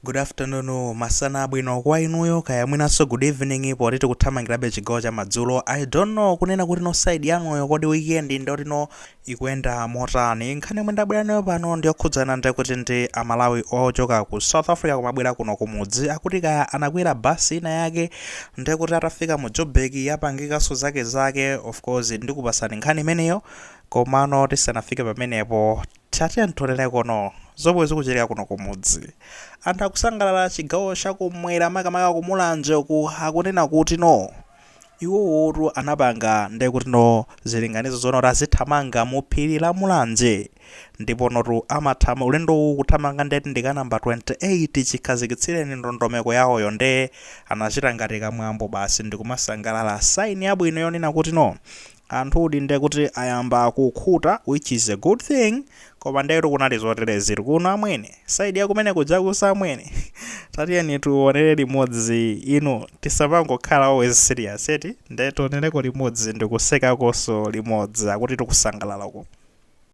Good afternoon, masana bwino kwa inuyo kaya mwinanso good evening poti tikuthamangirabe chigawo cha madzulo. I don't know kunena kuti no side yanuyo kodi weekend ndiyoti no ikuyenda motani. Nkhani yomwe ndabwera nayo pano ndiyokhudzana ndi kuti ndi Amalawi ochoka ku South Africa kumabwera kuno kumudzi akuti kaya anakwera basi ina yake ndiye kuti atafika mu Joburg yapangikanso zake zake of course ndikupasani nkhani imeneyo komano tisanafike pamenepo Tatiyeni tionereko no zomwe zikuchitika kuno kumudzi anthu akusangalala chigawo chakumwera makamaka ku Mulanje uku akunena kuti no iwowotu anapanga ndekuti no zilinganizo zona kuti azithamanga mu phiri la Mulanje ndipo notu amathamanga ulendowu kuthamanga ndeti ndika namba 28 chikhazikitsireni ndondomeko yawoyo nde anachita ngati kamwambo basi ndikumasangalala sign yabwino yonena kuti no Anthu di nde kuti ayamba kukhuta which is a good thing koma ndetu kunali zoterezi eti kuno amwene side ya kumene kujakuso amwene tatiyeni tionere limodzi inu tisapangokhala always serious eti nde tionereko limodzi ndikusekakonso limodzi akuti tikusangalalako.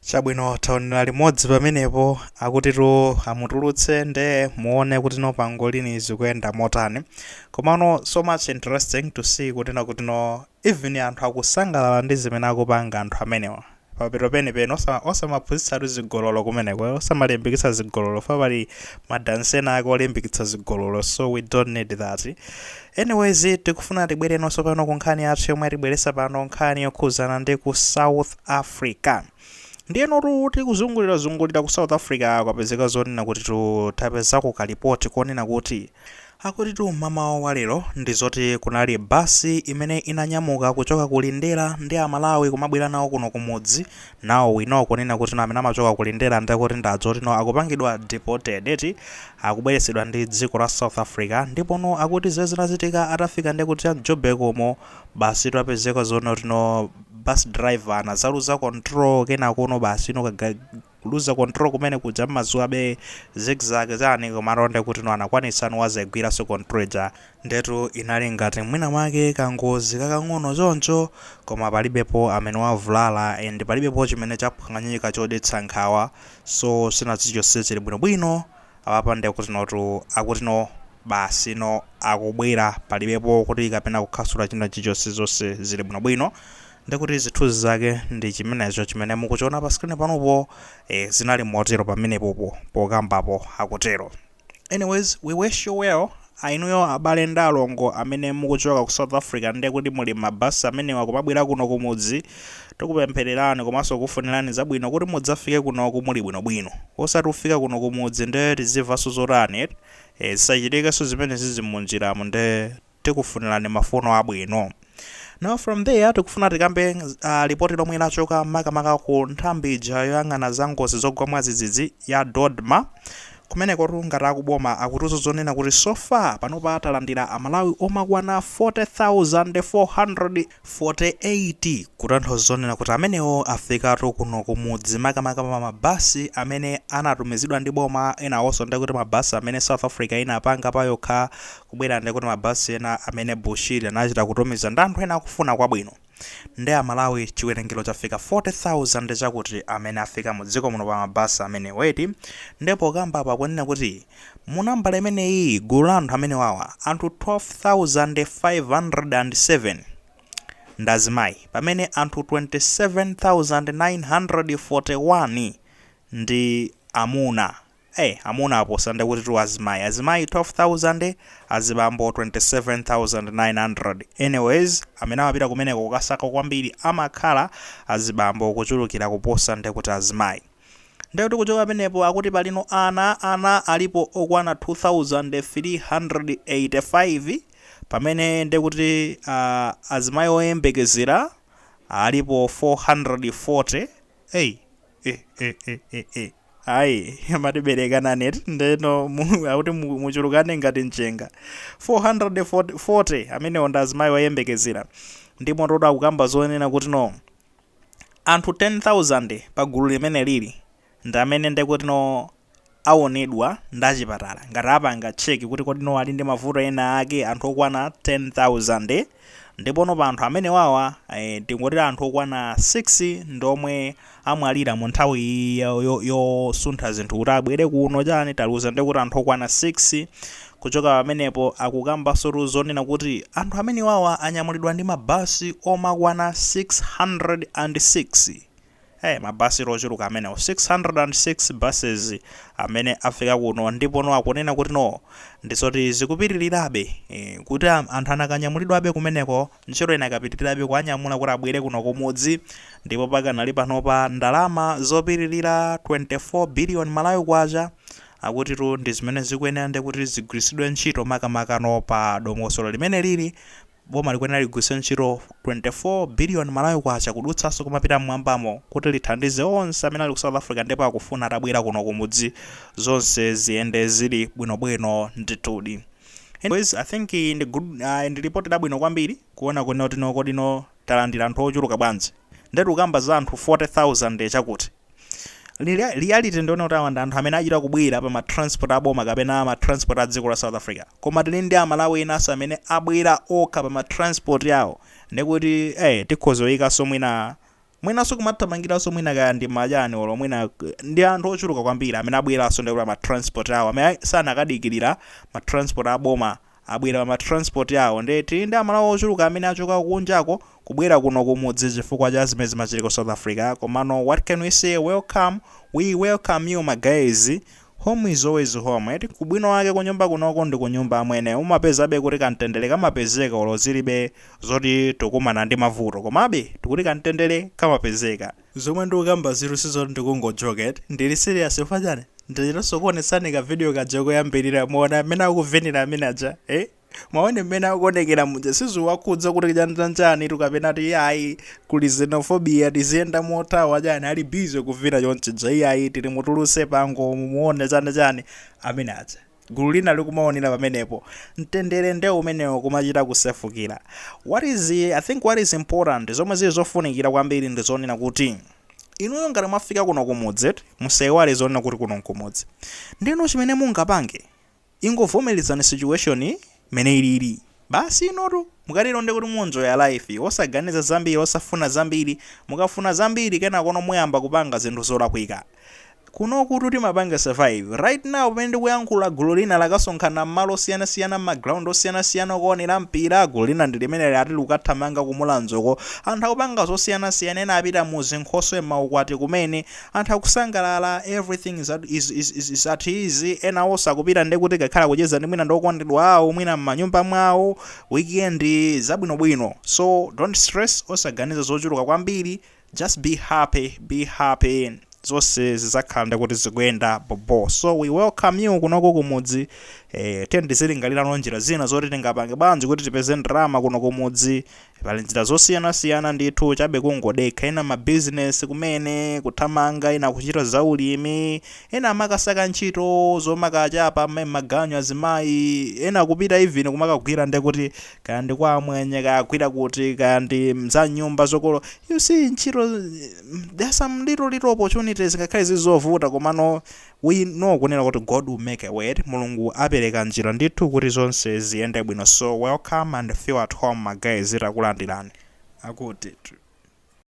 chabwino taonera limodzi pamenepo akutitu amutulutse nde muone kuti no pangolini zikuyenda motani komano so much interesting to see kutina kuti no even anthu akusangalala ndi zimene akupanga anthu amenewa pamapeto penipeni osamaphunzitsatu zigololo kumeneko eh, osamalimbikitsa zigololo fa pali madansi ena ake olimbikitsa zigololo so we don't need that anyways tikufuna tibwerenonso pano ku nkhani yathu yomwe yatibweretsa pano nkhani yokhuzana ndi ku south africa ndiye notu tikuzungulirazungulira ku south africa kwapezeka zonena kutitu tapezako kalipoti konena kuti Akutitu mmamawa wa lero ndi zoti kunali basi imene inanyamuka kuchoka ku Lindera ndi Amalawi kumabwera nawo kuno kumudzi, now we know kunena kutino amene amachoka ku Lindera nde kuti ndi azoti no akupangidwa deported eti, akubweretsedwa ndi dziko la South Africa ndiponu akuti zimene zinachitika atafika nde kuti mu Joburg umo basi tapezeka zonotino bus driver anadzaluza control kenakono basi no ka kuluza control kumene kuja mmaziwabe zigzag chani komatu nde kuti no anakwanitsa no wadzaigwiranso control ija ndetu inali ngati mwina mwake kangozi kakang'ono choncho koma palibepo amene wavulala and palibepo chimene chaphwanyika chodetsa nkhawa so china chilichonse chili bwino bwino apapa ndekuti notu akuti no basi no akubwera palibepo kuti kapena kukhasula china chichonse zonse zili bwino bwino Ndiye kuti zithunzi zake ndi chimenecho chimene mukuchiona pa screen panupo, eh zinali motero pamenepopo pokambapo akutero. Anyways, we wish you well. Ah inuyo abale ndi alongo amene mukuchoka ku South Africa ndiye kuti muli mma bus amenewa kumabwera kuno kumudzi, tikupemphererani komanso kukufunirani zabwino kuti mudzafike kunoku muli bwinobwino. Osati mufika kuno kumudzi ndiye tizivanso zotani eti? Eh zisachitikenso zimenezizi munjiramu ndiye. tikufunilani mafuno abwino. Now from there tikufuna tikambe uh, lipoti lomwe lachoka makamaka ku nthambi ija yoyang'ana za ngozi zogwa mwadzidzidzi ya dodma kumeneko ngati akuboma akutiuza zonena kuti so far panopa talandira amalawi omakwana 40400 48 kutanthauza zonena kuti amenewo afikatu kuno kumudzi makamaka pa mabasi amene anatumizidwa ndi boma enawonso ndiye kuti mabasi amene south africa inapanga payokha kubwera ndiye kuti mabasi ena amene bushiri anachita kutumiza ndi anthu ena akufuna kwabwino ndi amalawi chiwerengero chafika 40,000 chakuti amene afika mu dziko muno pa mabasi amenewa eti ndipo akukamba apa kunena kuti Mu nambala imeneyi, gulu la anthu amenewawa, anthu 12,507 ndi azimayi pamene anthu 27,941 ndi amuna. Eh, amuna aposa nde kutitu azimayi. Azimayi 12,000, azibambo 27,900. Anyways, amene amapita kumeneko kukasaka kwambiri amakhala azibambo kuchulukira kuposa nde kuti azimayi. Ndiye kuti kuchoka pamenepo akuti palino ana ana alipo okwana 2385 pamene ndiye kuti uh, azimayi oyembekezera alipo 440 ei eh, eh, eh, eh, eh. ayi amati berekanani eti nde no mu- akuti mu- muchulukane ngati mchenga 440 amenewo ndi azimayi oyembekezera ndipo total akukamba zonena kuti no Anthu 10,000 pa gulu limeneli ndi amene nde kuti no awonedwa ndi achipatala ngati apanga check kuti kodi no ali ndi mavuto ena ake, anthu okwana 10,000. Ndipo no pa anthu amenewawa tingoti anthu okwana 6 ndi omwe amwalira mu nthawi iyi yo yo yosuntha zinthu kuti abwere kuno chani taluza nde kuti anthu okwana 6. Kuchoka pamenepo akukambansotu zonena kuti anthu amenewawa anyamulidwa ndi ma bus omakwana 606. Eeh ma bus tu ochuluka amenewo 606 buses amene afika kuno ndipono akunena kuti no ndizoti zikupitirirabe eeh kuti anthu anakanyamulidwabe kumeneko. Ntchito inakapitirirabe kuwanyamula kuti abwere kuno kumudzi ndipo pakanali panopa ndalama zopitirira 24 billion Malawi Kwacha akutitu ndi zimene zikuyenera ndi kuti zigwiritsidwe ntchito makamakano pa dongosolo limene liri boma likuyenera ligwiritse ntchito 24 billion Malawi Kwacha kudutsanso kumapita m'mwambamo kuti lithandize onse amene ali ku South Africa ndipo akufuna atabwera kuno kumudzi zonse ziyende zili bwinobwino ndithudi. Anyways, I think iyi ndi good uh, ndi report labwino kwambiri kuona kunena kuti no kodino talandira anthu ochuluka bwanji. Ndetu ukamba za anthu 40,000 chakuti. Lia- Reality ndi yonena kuti awa ndi anthu amene achita kubwera pa ma transport aboma kapena ma transport a dziko la South Africa. Koma tili ndi amalawi enanso amene abwera okha pa ma transport awo. Ndikuti eh tikhoza kuyikanso mwina Mwinanso kumathamangiranso mwina kaya ndi majani olo mwina ndi anthu ochuluka kwambiri amene abweranso nde pa ma transport awo amene sanakadikirira ma transport a boma abwera pa ma transport awo nde tili ndi amalawi ochuluka amene achoka kunjako kubwera kuno kumudzi chifukwa cha zimene zimachitika ku south africa komano what can we say welcome we welcome you ma guys Home is always home eti, ubwino wake kunyumba kunoko ndi kunyumba amwene, umapezabe kuti kamtendere kamapezeka olo zilibe zoti tikukumana ndi mavuto komabe tikuti kamtendere kamapezeka. Zomwe ndikukambazitu sizoti ndikungo joke eti, ndili serious chifukwa chani? Ndachitanso kuonetsani ka video kaja koyambilira, muona mmene akuvinira amene aja, eh? Mwaona mmene akuonekera muja sizikuwakhudza kuti chani chani tu kapena ati ayi kuli xenophobia tiziyenda mothawa chani ali busy kuvina chonchija iyayi titi mutulutse pango mumuone chani chani amene aja gulu lina likumaonera pamenepo mtendere nde umenewo kumachita kusefukira what is i think what is important zomwe zili zofunikira kwambiri ndi zonena kuti inuyo ngati mwafika kuno kumudzi eti musaiwale zonena kuti kuno nkumudzi ndinu chimene mungapange Ingovomerezani situation mmene ilili basi inutu mukatero ndekuti muenjoya life osaganiza zambiri osafuna zambiri mukafuna zambiri kenakono muyamba kupanga zinthu zolakwika. Kunokutu timapanga survive right now pamene ndikuyankhula gulu lina lakasonkhana mmalo osiyana siyana mma ground osiyana siyana okaonera mpira gulu lina ndilimeneli ati likukathamanga ku Mulanje uko anthu akupanga zosiyana siyana ena apita muzinkhoswe mmaukwati kumene Anthu akusangalala everything is at is is is is at easy ena osakupita ndi kuti akakhale kucheza ndi mwina ndi okondedwa awo mwina mmanyumba mwawo weekend zabwinobwino so don't stress osaganiza zochuluka kwambiri just be happy be happy zonse zizakhala nde kuti zikuyenda bobo so we welcome you kunoko kumudzi eh, tiyeni tizilingalirano njira zina zoti tingapange bwanji kuti tipeze ndalama kuno kumudzi Pali njira zosiyana siyana ndithu chabe kungodekha ena ma business kumene kuthamanga ena kuchita za ulimi ena amakasaka ntchito zomakachapa ma- maganyu azimayi ena kupita even kumakagwira ndiye kuti kaya ndi kwa amwenye kaya agwira kuti kaya ndi za m'nyumba zokolopa you see ntchito mm, there are some little little opportunities ngakhale zizovuta komano We know kunena kuti God will make a way Mulungu apereka njira ndithu kuti zonse ziyende bwino so welcome and feel at home ma guys takulandirani. Akuti.